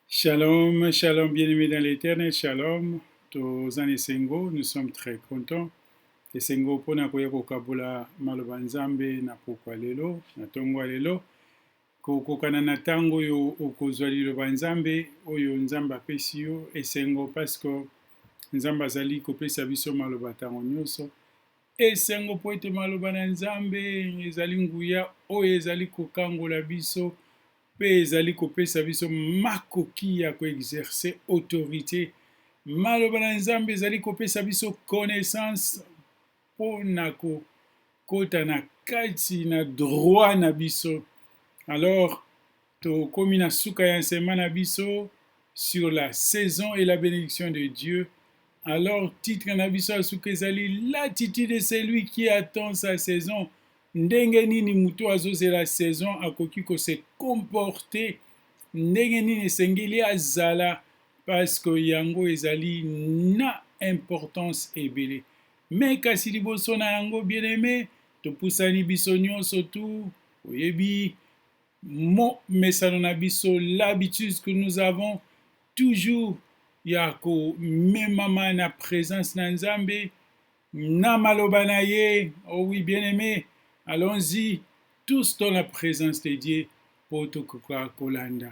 Shalom, shalom, bien-aimé dans l'éternel, shalom. Toza na esengo, nous sommes très contents. Esengo mpo na koya kokabola maloba Nzambe na pokwa lelo, na ntongo ya lelo. Kokokana na ntango oyo okozwa liloba Nzambe, oyo Nzambe apesi yo, esengo parce que Nzambe azali kopesa biso maloba ntango nyonso. Esengo mpo ete maloba na Nzambe ezali nguya oyo ezali kokangola biso mpe ezali kopesa biso makoki ya ko exercer autorite. Maloba na Nzambe ezali kopesa biso connaissance mpo na kokota na kati na droit na biso. Alors Tokomi na suka ya enseignement na biso sur la saison et la benediction de Dieu. Alors titre na biso ya suka ezali l'attitude de celui qui attend sa saison. Ndenge nini moto azozela saison akoki ko se comporter, ndenge nini esengeli azala parce que yango ezali na importance ebele. Mais kasi liboso na yango bien aimé topusani biso nyonso tu oyebi mo mesano na biso l'habitude que nous avons toujours ya ko memama na presence na Nzambe na maloba na ye oh oui bien aimé allons-y tous dans la présence de Dieu po tokoka kolanda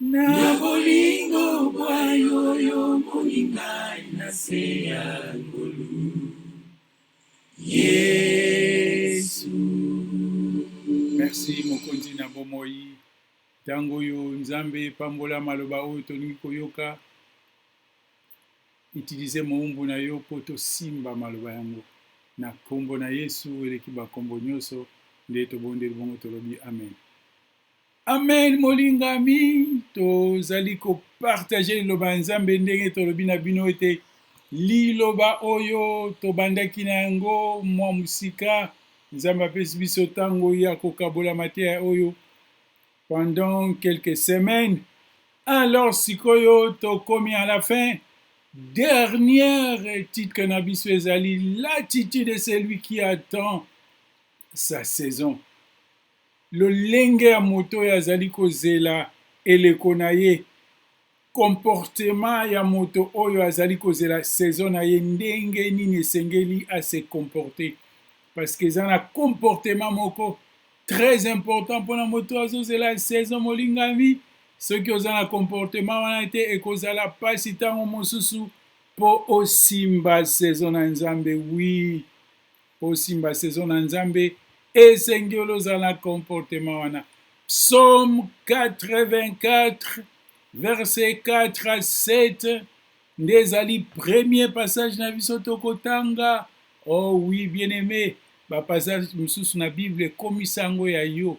Na bolingo bwa yo y'omoni ngai na se ya ngolu Yesu. Merci mokonzi na bomoi ntango oyo nzambe pambola maloba oyo tolingi koyoka utilize mowumbu na yo mpo tosimba maloba yango na nkombo na yesu eleki bankombo nyonso nde tobondeli bongo tolobi amen Amen molingami, tozali ko partager liloba ya Nzambe ndenge tolobi na bino ete liloba oyo tobandaki na yango mwa mosika, Nzambe apesi biso ntango ya kokabola mateya oyo pendant quelques semaines. Alors sikoyo tokomi à la fin. Dernière titre na biso ezali l'attitude de celui qui attend sa saison. lolenge ya moto oyo azali kozela eleko na ye, comportement ya moto oyo azali kozela saison na ye ndenge nini esengeli à se comporter parce que eza na comportement moko très important mpona moto azozela saison molingami soki oza na comportement wana te ekozala mpasi ntango mosusu mpo osimba saison na nzambe wi po osimba saison na nzambe esengeli ozala na comportement wana psaume 84 verset 4 à 7 nde ezali premier passage na biso tokotanga oh oui bien aimé bapassage mosusu na bible ekomisa yango ya yo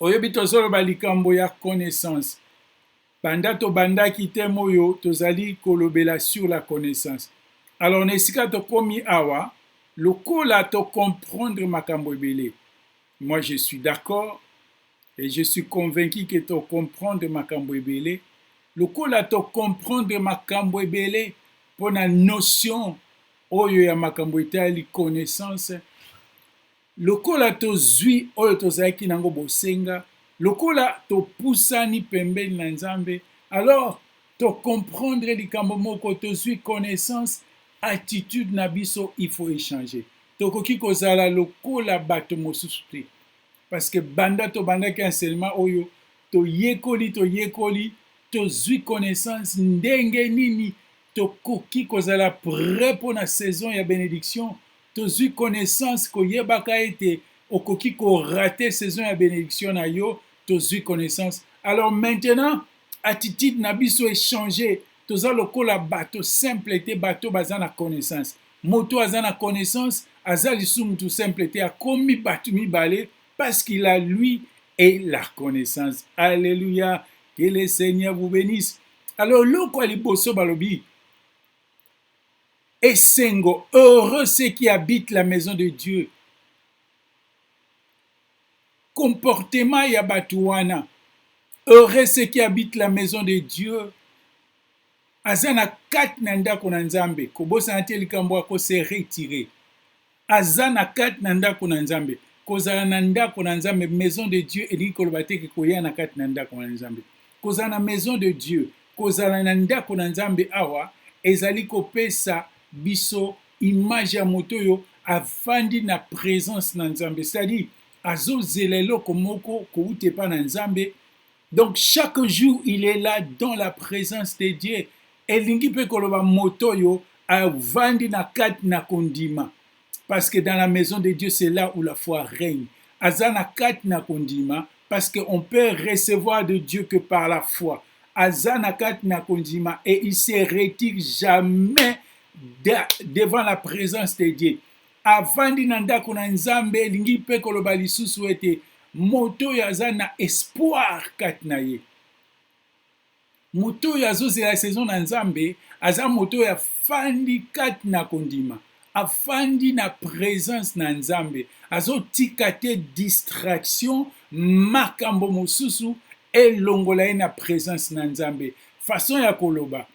Oyebi tozoloba likambo ya connaissance banda tobandaki thème oyo tozali kolobela sur la connaissance alors na esika tokomi awa lokola tocomprendre makambo ebele moi je suis d'accord et je suis convaincu que tocomprendre makambo ebele lokola tocomprendre makambo ebele mpo na notion oyo ya makambo etali connaissance Lokola tozwi oyo tozalaki na yango bosenga, lokola topusani pembeni na Nzambe, alors to comprendre likambo moko, tozwi connaissance, attitude na biso il faut echanger. Tokoki kozala lokola bato mosusu te. Parce que banda tobandaki enseignement oyo, toyekoli, toyekoli, tozwi connaissance ndenge nini tokoki kozala prêt mpo na saison ya benediction, Tozui connaissance koyebaka ete okoki ko rater saison ya benediction na yo, tozui connaissance. Alors maintenant attitude na biso e changer, toza lokola bato simple te, bato baza na connaissance. Moto aza na connaissance aza lisusu moto simple te, akomi bato mibale parce qu'il a lui et la connaissance. Alléluia, que le Seigneur vous bénisse. Alors eloko ya liboso balobi Esengo, heureux ceux qui habitent la maison de Dieu. Comportement ya bato wana, heureux ceux qui habitent la maison de Dieu. Aza na kati na ndako na Nzambe, kobosana te likambo ako se retirer. aza na kati na ndako na nzambe kozala na ndako na nzambe maison de dieu elingi koloba te ke koya na kati na ndako na nzambe kozala na maison de dieu kozala na ndako na nzambe awa ezali kopesa biso image ya moto oyo afandi na presence na nzambe cestadi azozela eloko moko kouta epa na nzambe donc chaque jour il est là dans la présence de dieu elingi mpe koloba moto oyo avandi na kati na kondima parce que dans la maison de dieu c'est là où la foi règne aza na kati na kondima parce que on peut recevoir de dieu que par la foi aza na kati na kondima et il se retire jamais de, devant la présence de dieu Avandi na ndako na Nzambe elingi mpe koloba lisusu ete moto oyo aza na espoir kati na ye. Moto oyo azozela saison na Nzambe aza moto oyo afandi kati na kondima, afandi na presence na Nzambe, azotika te distraction, makambo mosusu elongola ye na presence na Nzambe. Façon ya koloba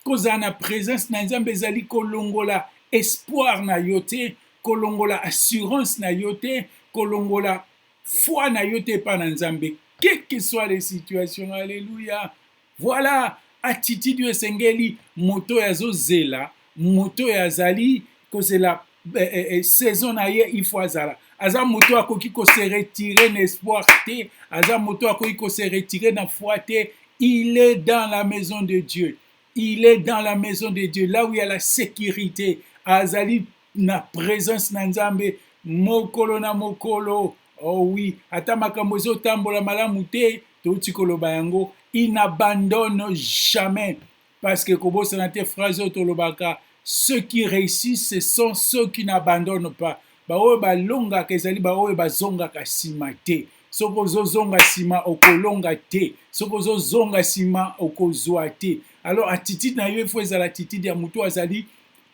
Kozala na presence na Nzambe ezali kolongola espoir na yo te, kolongola assurance na yo te, kolongola foi na yo te epai na Nzambe. Quelle que soit les situations, alléluia. Voilà attitude oyo esengeli moto oyo azozela, moto oyo azali kozela eh, eh, eh, saison na ye il faut azala aza moto akoki ko se retirer na espoir te aza moto akoki ko se retirer na foi te il est dans la maison de Dieu il est dans la maison de Dieu là où il y a la sécurité azali na présence na Nzambe mokolo na mokolo oh oui ata makambo ezotambola malamu te touti koloba yango il n'abandonne jamais parce que kobosana te phrase oyo tolobaka ceux qui réussissent ce sont ceux qui n'abandonnent pas baoyo balongaka ezali baoyo bazongaka nsima te soki ozozonga nsima okolonga te soki ozozonga nsima okozwa te alors attitude na yo efo ezala attitude ya moto azali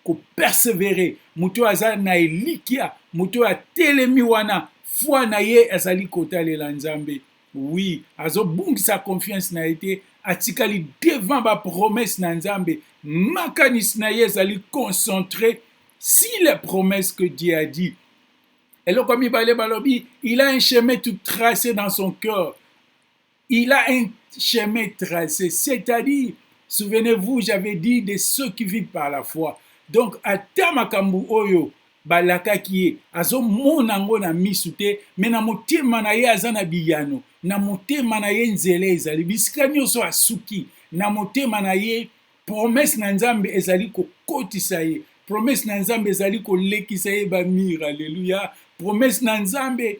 kopersevere moto oyo aza na elikya moto oyo atelemi wana foi na ye azali kotalela nzambe Oui, azobungisa confiance na ye te, atikali devant ba promesses na Nzambe, makanisi na ye ezali concentre si les promesses que Dieu a dit. Eloko ya mibale balobi, il a un chemin tout tracé dans son cœur. Il a un chemin tracé, c'est-à-dire, souvenez-vous, j'avais dit de ceux qui vivent par la foi. Donc, ata makambo oyo Balakaki ye, azomona yango na misu te, mais na motema na ye aza na biyano, na motema na ye nzela ezali, bisika nioso asuki, na motema na ye promesse na Nzambe ezali kokotisa ye, promesse na Nzambe ezali kolekisa ye ba mur, alleluia, promesse na Nzambe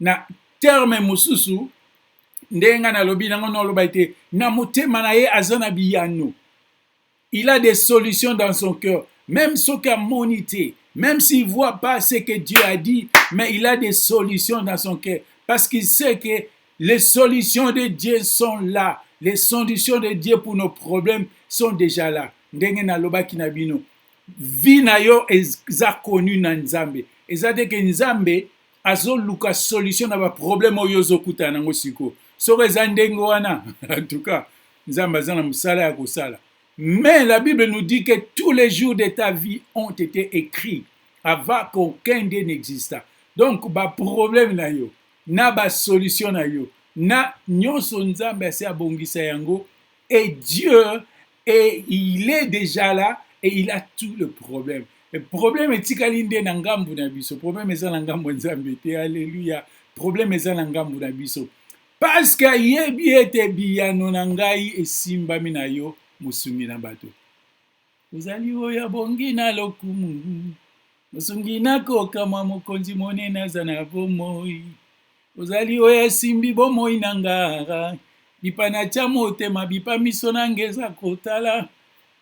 Na terme mosusu, ndenge nga nalobi na ngo oloba ete na motema na ye aza na biyano il a des solutions dans son cœur même soki amoni te même s'il voit pas ce que Dieu a dit mais il a des solutions dans son cœur parce qu'il sait que les solutions de Dieu sont là les solutions de Dieu pour nos problèmes sont déjà là ndenge nalobaki na bino vie na yo eza connu na nzambe eza te ke nzambe azoluka solution na baproblème oyo ozokutana nango sikoyo soko eza ndenge wana en tout cas nzambe aza na mosala ya kosala mais la bible nous dit que tous les jours de ta vie ont été écrits avant qu'aucun de n'exista donc baproblème na yo na basolution na yo na nyonso nzambe asi abongisa yango et Dieu et il est dejà là et il a tout le problème et problème etikali nde na ngambu na biso problème eza na ngambu nzambe te alléluia problème eza na ngambu na biso parce que ayebi ete biyano na ngai esimbami na yo mosungi na bato ozali oyo abongi na lokumu mosungi na kokamwa mokonzi monene aza na bomoi ozali oyo asimbi bomoi na ngara bipa na tya motema bipa miso na nge eza kotala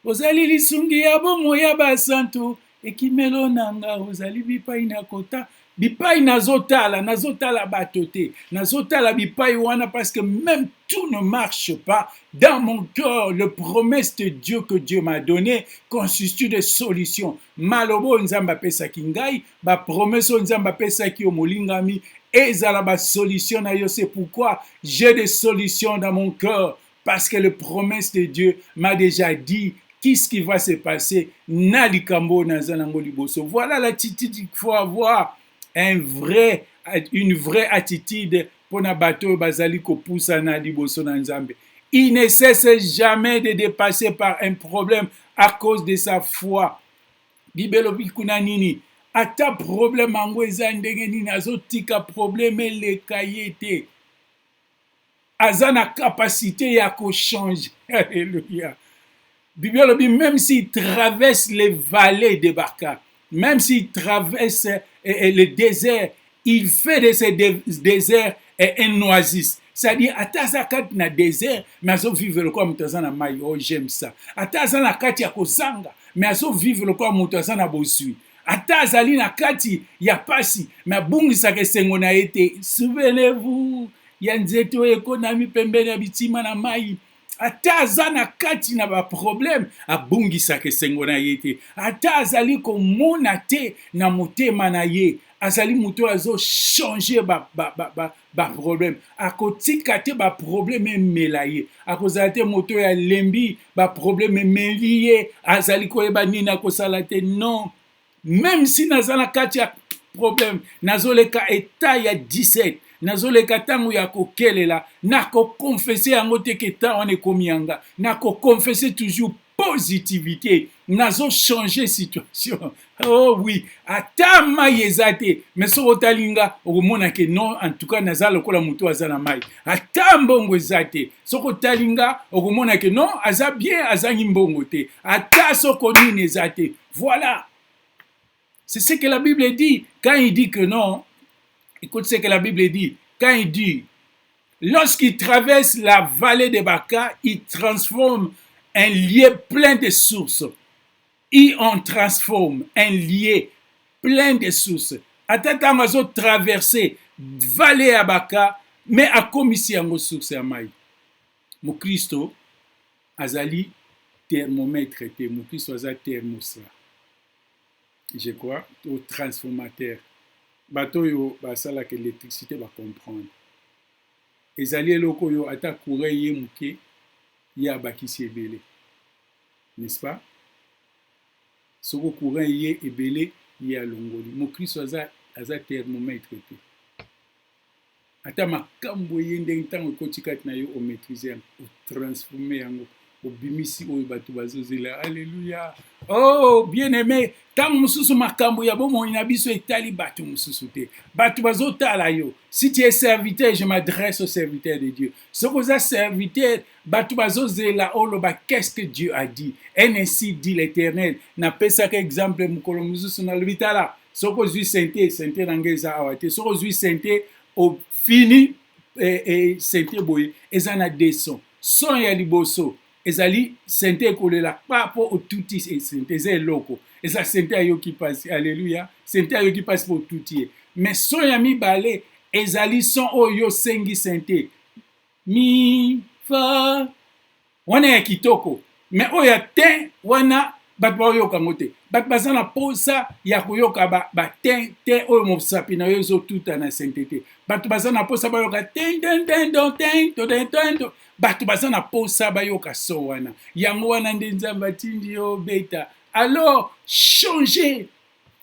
ozali lisungi ya bomoi ya basantu ekimelo na nga ozali bipai na kota bipai nazotala nazotala bato te nazotala bipai wana parce que même tout ne marche pas dans mon cœur le promesse de dieu que dieu m'a donné constitue de solution maloba oyo nzambe apesaki ngai bapromese oyo nzambe apesaki yo molingami ezala basolution na yo c'est pourquoi j'ai des solutions dans mon cœur parce que le promesse de Dieu m'a déjà dit qu'est-ce qui va se passer na likambo oyo naza nango liboso voilà l'attitude qu'il faut avoir un vrai une vraie attitude mpo na bato oyo bazali kopusana liboso na nzambe il ne cesse jamais de dépasser par un problème à cause de sa foi bibelobi kuna nini ata problème yango eza ndenge nini azotika problème eleka ye te aza na capacité ya ko change alleluia bibi alobi même si traverse les vallées de baka même si traverse eh, eh, le désert il fait de ce désert eh, un oasis c'est-à-dire ata aza kati na désert mais azovivre lokola moto aza na mai oh j'aime ça ata aza na kati ya kozanga mais azovivre lokola moto aza na bozwi ata azali na kati ya pasi me abungisaka esengo na ye te souvenez-vous ya nzete oyo ekonami pembeni ya bitima na mai ata aza na kati na baproblème abungisaka esengo na ye te ata azali komona te na motema na ye azali moto oyo azochange ba problème akotika te ba problème emela ye akozala te moto oyo alembi ba problème emeli ye azali koyeba nini akosala te non meme si naza na kati ya problème nazoleka etat ya 17 nazoleka ntango ya kokelela nakokonfese yango te ke temps wana ekomi yanga nakokonfese toujours positivite nazo changer situation oh oui ata mai eza te mais soki otali nga okomona ke non en tout cas naza lokola motu aza na mai ata mbongo eza te soki otali nga okomona ke non aza bien azangi mbongo te ata soko nini eza te voilà C'est ce que la Bible dit. Quand il dit que non, écoute ce que la Bible dit. Quand il dit, lorsqu'il traverse la vallée de Baca, il transforme un lieu plein de sources. Il en transforme un lieu plein de sources. Ata ntango azo traverse vale ya baka me akomisi yango source ya mai mokristo azali termometre te mokristo aza thermostat je crois to transformateur bato oyo basalaka électricité bacomprendre ezali eloko oyo ata courant eye moke ye abakisi ebele n'est-ce pas soko courant eye ebele ye alongoli mokristo aza, aza thermomètre te ata makambu eye ndenge tango ekoti kati na yo o maitrise yango o transforme yango obimisi oyo bato bazozela aleluya oh bien aime ntango mosusu makambo ya bomoi na biso etali bato mosusu te bato bazotala yo si tu es serviteur je m'adresse au serviteur de dieu soki oza serviteur bato bazozela oloba qu'est-ce que dieu a dit un ainsi dit l'éternel napesaka exemple mokolo mosusu nalobi tala soki ozwi sente sente na ngai eza awa te soki ozwi sente ofini e, e, sente boye eza na de son son ya liboso ezali sente ekolela pa mpo otuti e, sente eza eloko eza sente ayoki mpasi aleluya sente ayoki mpasi mpo otuti ye me son ya mibale ezali son oyo osengi sente mi fa wana ya kitoko me oyo ya tin wana bato baoyoka yango te bato baza na mposa ya koyoka batin te oyo mosapi na yo ezotuta na sente te bato baza na mposa bayoka tendendendo tento tento bato baza na mposa bayoka so wana yango wana nde nzambe atindi yo beta alors changer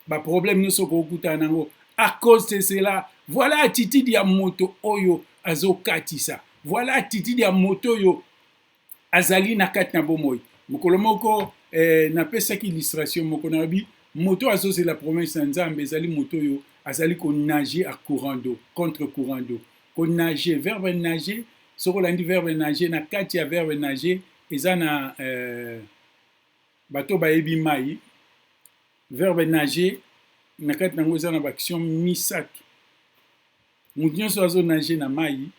ba problème nyonso okokutana nango à cause de cela voilà attitude ya moto oyo azokatisa voilà attitude ya moto oyo azali na kati na bomoi mokolo moko eh, napesaki illustration moko nalobi moto oyo azozela promesse na nzambe ezali moto oyo azali konage a courant d'eau contre courant d'eau konage verbe nage soki olandi verbe nage na kati ya verbe nage eza na eh, Bato oyo bayebi mai, verbe nager na kati na yango eza na baaction misato. Moto nyonso azo nager na mai,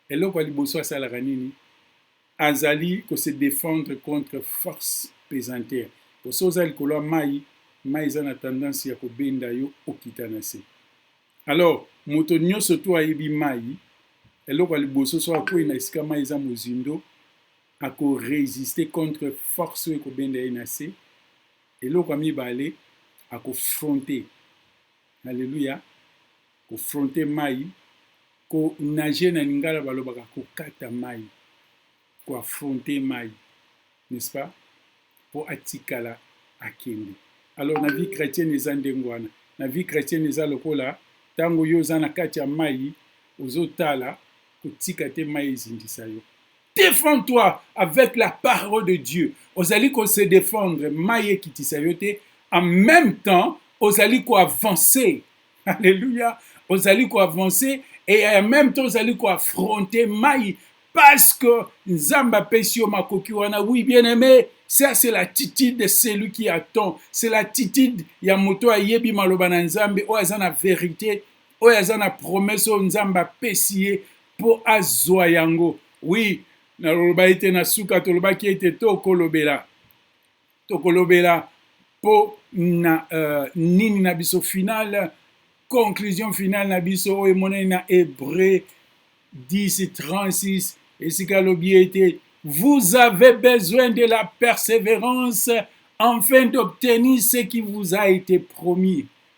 eloko ya liboso asalaka nini? Azali ko se defendre contre force pesanteur. Po soki oza likolo ya mai, mai eza na tendance ya kobenda yo okita na se. Alors, moto nyonso tu ayebi mai, eloko ya liboso soki akwei na esika mai eza mozindo, ako resister contre force oyo ekobenda ye na se eloko ya mibale ako fronter haleluya ko fronter mai ko nager na lingala balobaka kokata mai ko affronter mai n'est-ce pas mpo atikala akende alors na vie chrétienne eza ndenge wana na vie chrétienne eza lokola ntango yo oza na kati ya mai ozotala kotika te mai ezindisa yo Défends toi avec la parole de Dieu. Ozali ko se défendre, mayi ekitisa yo te. En même temps, ozali ko avancer. Alléluia. Ozali ko avancer et en même temps ozali ko affronter mayi parce que Nzambe apesi yo makoki wana. Oui, bien aimé, ça c'est l'attitude de celui qui attend. C'est l'attitude ya moto ayebi maloba na Nzambe oyo aza na verite, oyo aza na promesse oyo Nzambe apesi ye. mpo azwa yango. Oui, naloba ete na suka tolobaki ete tokolobela tokolobela mpo na uh, nini na biso finale conclusion finale na biso oyo emonani na Hébreu 10 36 esika alobi ete vous avez besoin de la persévérance afin d'obtenir ce qui vous a été promis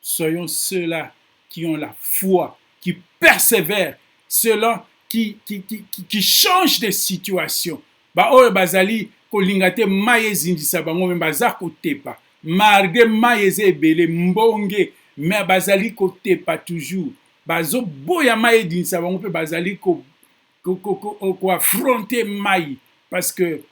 Soyons ceux-là qui ont la foi, qui persevèrent, ceux-là qui, qui, qui, qui, qui changent de situation. baoyo bazali kolinga te mai ezindisa bango me baza kotepa malgre mai eza ebele mbonge me bazali kotepa toujours bazoboya mai edindisa bango mpe bazali koafronte ko, ko, ko, mai parce que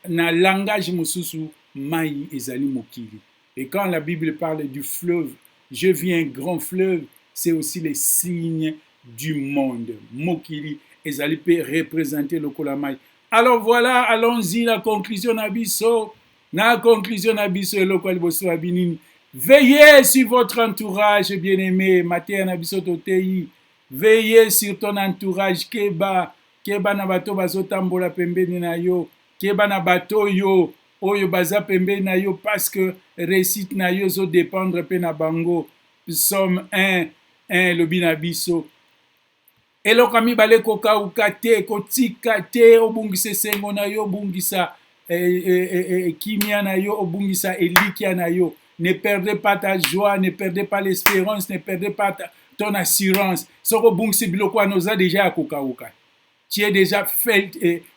na langage mosusu mai ezali mokili Et quand la Bible parle du fleuve, j'ai vu un grand fleuve, c'est aussi les signes du monde. Mokili ezali pe représenter lokola mai. Alors voilà, allons-y la conclusion na biso. Na conclusion na biso eloko liboso ya binini. Veillez sur votre entourage, bien-aimé. Mateya na biso toteyi. Veillez sur ton entourage, keba. Keba na bato bazotambola pembeni na yo. Keba na bato yo. oyo baza pembeni na yo parceque reussite na yo ezo dependre pe na bango psaume un un elobi na biso eloko ya mibale kokauka te kotika te obungisa esengo na yo obungisa eh, eh, eh, eh, eh kimia na yo obungisa elikia na yo ne perdez pas ta joie ne perdez pas l'espérance ne perdez pas ta, ton assurance soko obungisi biloko wana oza deja ya kokauka tu es dejà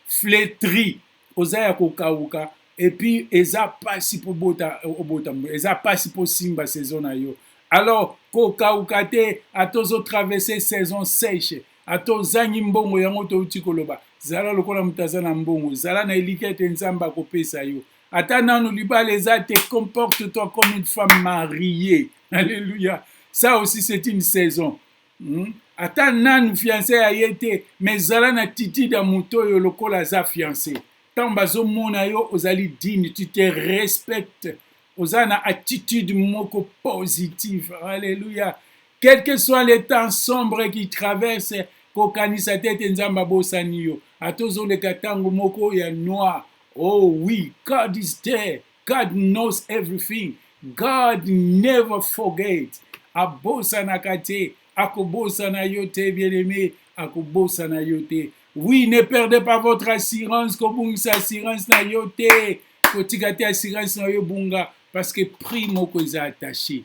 fletri oza ya kokawuka epuis eza pasi po bota obota mbu eza pasi po simba saison na yo alors kokawuka te ata ozo traverse saison sèche ata ozangi mbongo yango touti koloba zala lokola moto aza na mbongo zala na elikya ete nzambe akopesa yo ata nanu libala eza te comporte toi comme une femme mariée alléluia ça aussi c'est une saison Hum ata nanu fiance ya ye te mais zala na attitude ya moto oyo lokola aza fiance ntango bazomona yo ozali digne tu te respecte oza na attitude moko positive alleluya quelque soit le temps sombre qui traverse kokanisa te ete nzambe abosani yo ata ozoleka ntango moko ya noir oh oui god is there God knows everything. God never forget. Abosanaka te. Akobosana yo te, bien-aimé. Akobosana yo te. Oui, ne perdez pas votre assurance. Kobungisa assurance na yo te. Kotika te assurance na yo bunga parce que prix moko eza attaché.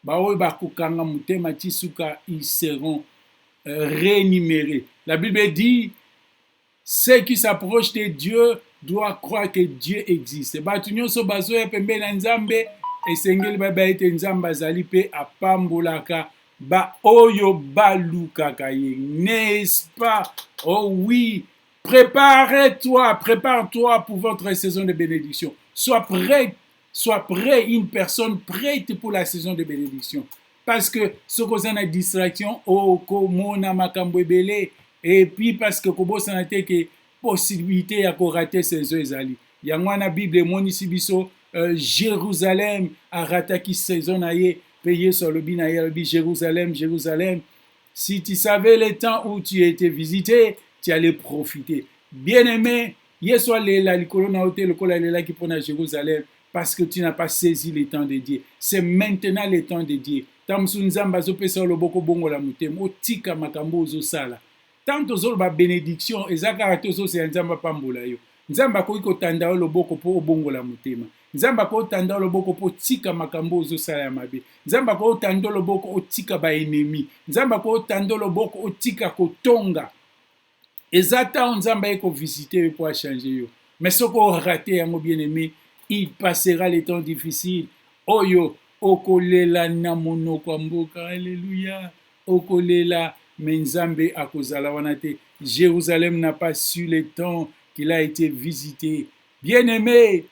Baoyo bakokanga motema ti suka ils seront euh, rémunérés. La Bible dit Ce qui s'approche de Dieu doit croire que Dieu existe. Bato nyonso bazoya pembeni na Nzambe esengeli bayeba ete Nzambe azali mpe apambolaka baoyo balukaka ye. N'est-ce pas? Oh oui, prépare-toi, prépare-toi pour votre saison de bénédiction. Sois prêt soit près une personne prête pour la saison de bénédiction parce que soki oza na distraction okomona oh, makambo ebele et puis parce que kobosana te ke possibilité ya korate saison ezali yango wana bible emonisi biso euh, jérusalem arataki saison na ye mpe yesu alobi na ye alobi jérusalem jérusalem si tu savais le temps où tu étais visité tu allais profiter bien aimé Yesu alela likolo na yo te lokola alelaki mpo na Jerusalem parce que tu n'as pas saisi le temps de Dieu. C'est maintenant le temps de Dieu. Ntango mosusu Nzambe azopesa yo loboko obongola motema, otika makambo oyo ozosala. Ntango tozoloba benediction, eza kaka te ozozela Nzambe apambola yo. Nzambe akoki kotanda yo loboko mpo obongola motema. Nzambe akoki kotanda yo loboko mpo otika makambo oyo ozosala ya mabe. Nzambe akoki kotanda yo loboko otika baenemi. Nzambe akoki kotanda yo loboko otika kotonga. eza temps nzambe aye ko visite yo po achange yo mais soki orate yango bien aime il passera le temps difficile oyo okolela na monoko ya mboka aleluya okolela me nzambe akozala wana te jerusalem na pas su le temps qu'il a été visite bien aime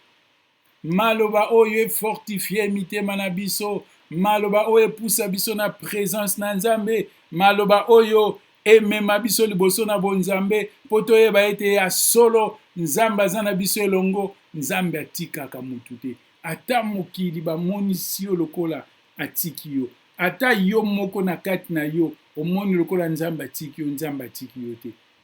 Maloba oyo e fortifier mitema na biso, maloba oyo epusa biso na presence na Nzambe, maloba oyo emema biso liboso na bonzambe mpo toyeba ete ya solo Nzambe aza na biso elongo, Nzambe atikaka mutu te. Ata mokili bamonisi yo lokola atiki yo, ata yo moko na kati na yo omoni lokola Nzambe atiki yo, Nzambe atiki yo te.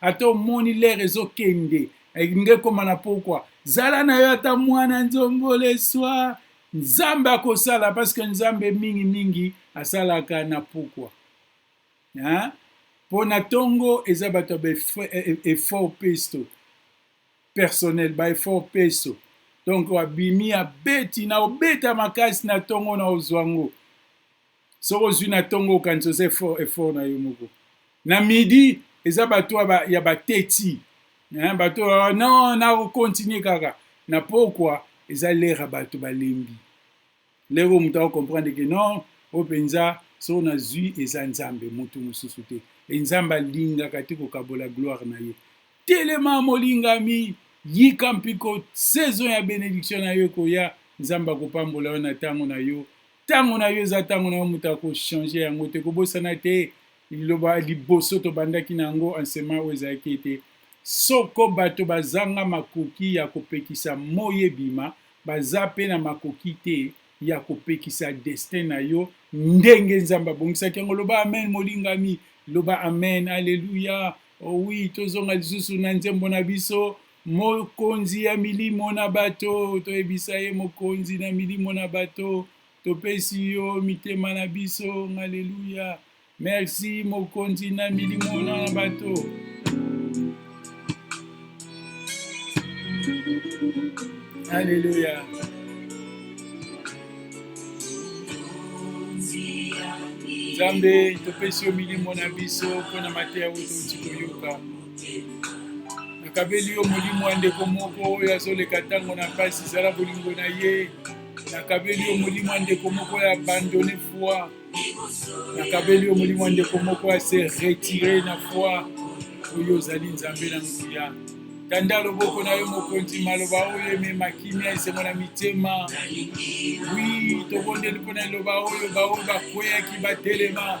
ata omoni lere ezokende elingi ekoma na pokwa zala na yo ata mwana nzongo leswa nzambe akosala parceke nzambe mingi mingi asalaka na pokwa mpo na ntongo eza bato ya baeffort pesto personnel baeffort peso donk abimi abeti na obeta makasi na ntongo na ozwa yango soki ozui na tongo okanisa oza effort effort na yo moko na midi eza bato ya bateti hein, bato ah, non na continue kaka na pokwa eza lera bato balembi lero moto akokomprendre ke non oyo mpenza soki nazwi eza nzambe moto mosusu te e nzambe alingaka te kokabola gloire na ye telema molingami yika mpiko saison ya benediction na yo ekoya nzambe akopambola yo na ntango na yo ntango na yo eza ntango na yo moto akochange yango te kobosana te liloba liboso tobandaki na yango ansema oyo ezalaki ete soko bato bazanga makoki ya kopekisa moi ebima baza mpe na makoki te ya kopekisa destin na yo ndenge nzambe abongisaki yango loba amen molingami loba amen aleluya owi oh tozonga lisusu na nzembo na biso Mokonzi ya milimo na bato, toyebisa ye mokonzi na milimo na bato, topesi yo mitema na biso. Haleluya! Merci mokonzi na milimo na bato. Haleluya! nzambe topesi yo milimo na biso mpo na mateya oyo touti koyoka nakabeli yo molimo ya ndeko moko oyo azoleka ntango na mpasi zala bolingo na ye nakabeli yo molimo ya ndeko moko ya abandone foi nakabeli yo molimo ya ndeko moko ya se retire na foi oyo ozali nzambe na nguya tanda loboko na yo mokonzi maloba oyo emema kimia esengo na mitema wi tobondeli mpo na liloba oyo baoyo bakweyaki batelema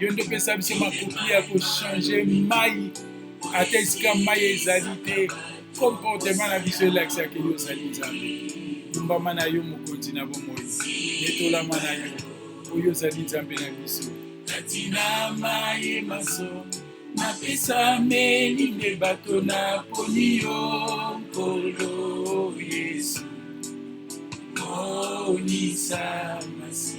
yo nde opesa biso makoki ya kochange mai ata esika mai ezali te komportema na biso elakisaka yo ozali nzambe lumbama na yo mokonzi na bomoi etolama na yo oyo ozali nzambe na biso kati na mai maso napesameli nde bato na poni yo nkolo yesu monisa masi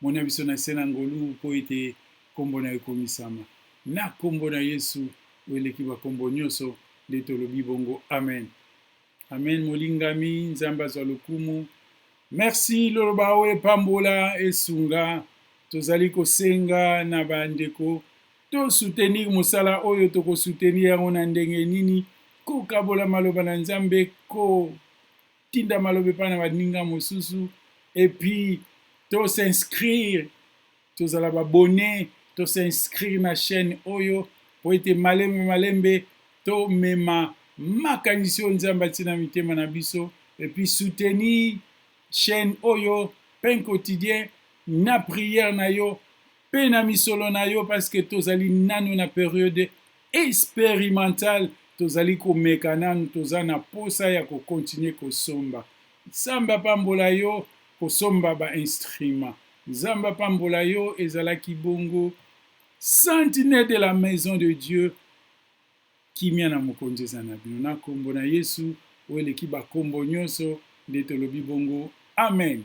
Moni ya biso na se na ngolu mpo ete nkombo na yo ekomisama. Na nkombo na Yesu oyo eleki bankombo nyonso nde tolobi bongo, amen. Amen, molingami. Nzambe azwa lokumu. Merci loloba oyo epambola esunga. Tozali kosenga na bandeko to soutenir mosala oyo toko soutenir yango na ndenge nini? Kokabola maloba na Nzambe, ko tinda maloba epai na baninga mosusu epuis to s'inscrire tozala babone to s'inscrire na chaîne oyo mpo ete malembe malembe tomema makanisi oyo nzambe atii na mitema na biso epuis soutenir chaîne oyo pain quotidien na prière na yo pe na misolo na yo parce que tozali nanu na periode experimental tozali komeka nanu toza na posa ya ko continuer kosomba nzambe apambola yo kosomba ba instrument nzambe apambola yo ezalaki bongo santine de la maison de dieu kimia na mokonzi eza na bino na kombo na yesu oyo eleki bakombo nyonso nde tolobi bongo amen